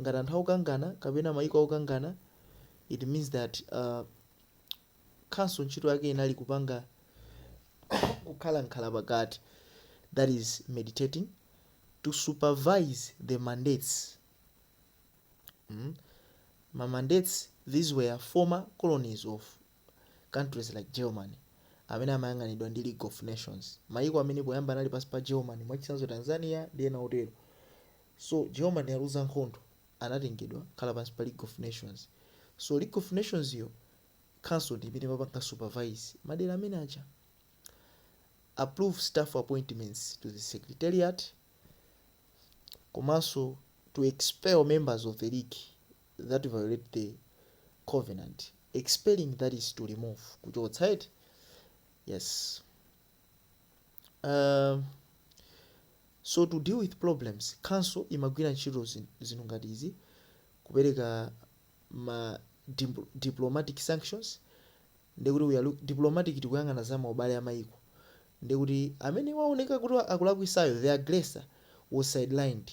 ngati anthu akukangana kapena mayiko akukangana it means that uh, council ntchito yake inali kupanga kukhala nkhala pakati that is meditating to supervise the mandates mm? ma mandates these were former colonies of countries like Germany, amene amayang'anidwa ndi League of Nations, mayiko amene poyamba anali pansi pa Germany, mwachitsanzo Tanzania ndi ena otero. So Germany yaluza nkhondo, anatengedwa kukhala pansi pa League of Nations. So League of Nations yo, council ndi imene imapanga supervise madera amene aja. Approve staff appointments to the secretariat komanso to expel members of the league that violate the covenant, expelling that is to remove kuchotsa eti yes um, so to deal with problems council imagwira ntchito zin- zinthu ngati izi kupereka ma dim- diplomatic sanctions ndekuti we are look- diplomatic tikuyang'ana za maubale a maiko ndekuti amene waoneka kuti akulakwisayo the aggressor was sidelined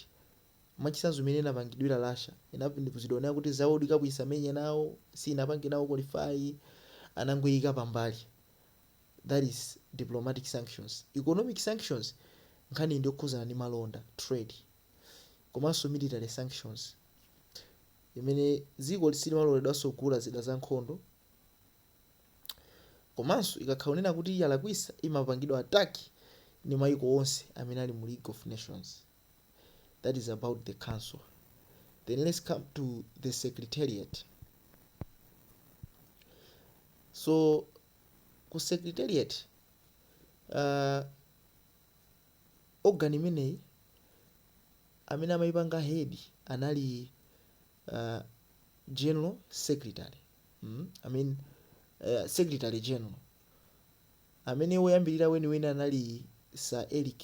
Mwachitsanzo imene inapangidwira Russia inapanikizidwa kunena kuti za world cup isamenye nawo sinapange nawo qualify anangoiika pambali that is diplomatic sanctions. Economic sanctions nkhaniyi ndi yokhuzana ndi malonda trade komanso military sanctions imene dziko silimaloledwanso kugula zida za nkhondo komanso ikakhala kunena kuti yalakwisa imapangidwa attack ndi maiko onse amene ali mu league of nations. that is about the council then let's come to the secretariat so ku secretariat uh, organ imeneyi amene amayipanga head anali uh, general secretary mm? I mean, uh, secretary general amene woyambirira weniweni anali sir eric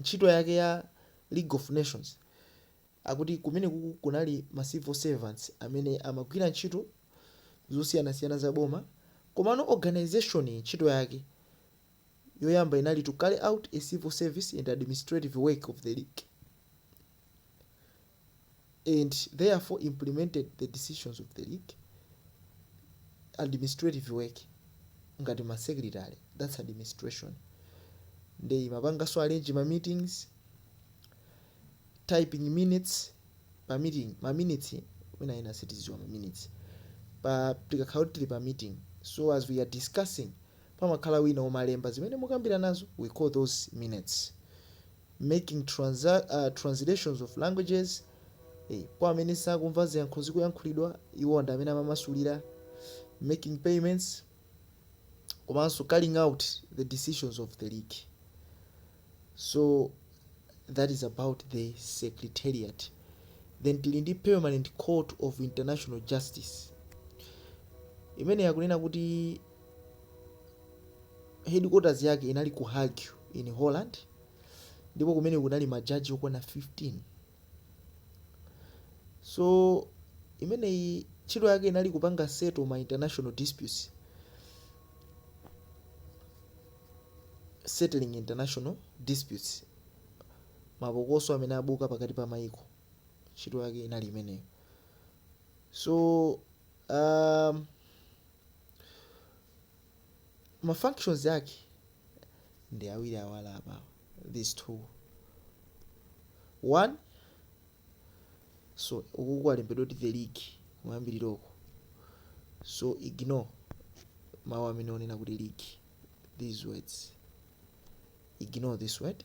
ntchito yake ya League of Nations, akuti kumenekuku kunali ma civil servants amene amagwira ntchito zosiyanasiyana za boma, komano organisation yi ntchito yake yoyamba inali to carry out a civil service and administrative work of the League. and therefore implemented the decisions of the league administrative work ngati ma secretary that's administration nde imapanganso arrange ma meetings typing minutes pa meeting ma minutes mwina ena sitiziwa ma minutes pa tikakhala kuti tili pa meeting so as we are discussing pamakhala wina omalemba zimene mukambiranazo we call those minutes making translations of languages, e, kwa amene sakumva ziyankhulo zikuyankhulidwa, iwowa ndi amene amamasulira, making payments komanso carrying out the decisions of the League. So that is about the Secretariat. Then tili ndi Permanent Court of International Justice imene akunena kuti headquarters yake inali ku Hague in Holland. ndipo kumeneko kunali majaji okwana 15. So imeneyi ntchito yake inali kupanga settle ma international disputes, settling international disputes, mapokoso amene abuka pakati pa mayiko, ntchito yake inali imeneyo. So um, ma functions ake ndi awiri awa ali apawa these two one so uku kwalembedwa kuti the league kuyambiriroko so ignore mawu amene onena kuti league these words ignore this word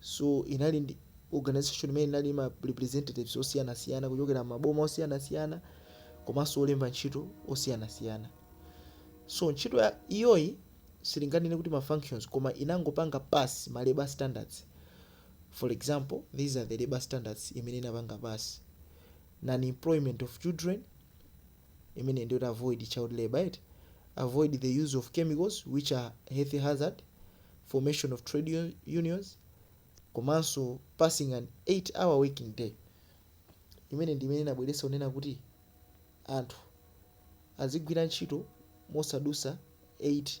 So inali ndi organization imene inali ma representatives osiyanasiyana kuchokera maboma osiyanasiyana komanso olemba ntchito osiyanasiyana. So ntchito iyoyi sitinganene kuti ma functions koma inangopanga pass ma labor standards. For example, these are the labor standards imene inapanga pass. Non-employment of children, imeneyi ndiyoti avoid child labour eti avoid the use of chemicals which are health hazard formation of trade un- unions komanso passing an 8 hour working day imeneyi ndi imene inabweretsa kunena kuti anthu azigwira ntchito mosadusa 8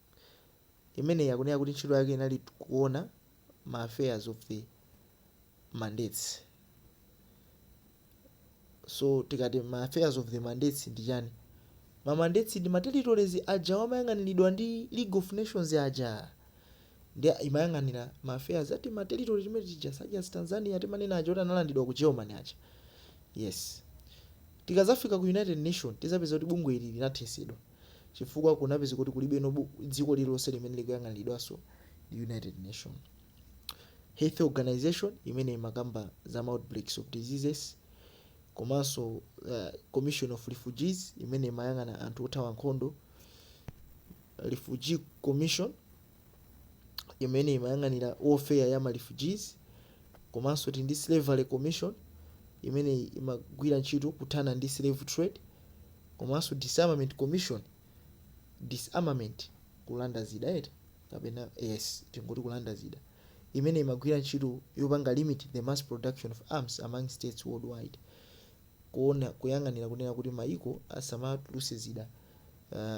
Imeneyi akunena kuti ntchito yake inali kuona ma affairs of the mandates. So tikati ma affairs of the mandates ndi chani? Ma mandates ndi ma territories aja amayang'aniridwa ndi League of Nations aja. Ndi imayang'anira ma affairs a tima territory timene tija such as Tanzania timanena aja oti analandidwa ku Germany aja. Yes. Tikadzafika ku United Nations tidzapeza kuti bungwe ili linathesedwa. chifukwa kunapezeka kuti kulibenso bu- dziko lililonse limene likuyang'aniridwanso ndi united nations health organization imene imakamba za outbreaks of diseases komanso uh, commission of refugees imene imayang'ana anthu othawa nkhondo refugee commission imene imayang'anira welfare ya ma refugees komanso tili ndi slavery commission imene imagwira ntchito kuthana ndi slave trade komanso disarmament commission disarmament kulanda zida eti kapena yes tingoti kulanda zida imene imagwira ntchito yopanga limit the mass production of arms among states worldwide kuona kuyang'anira kunena kuti maiko asamatuluse zida uh,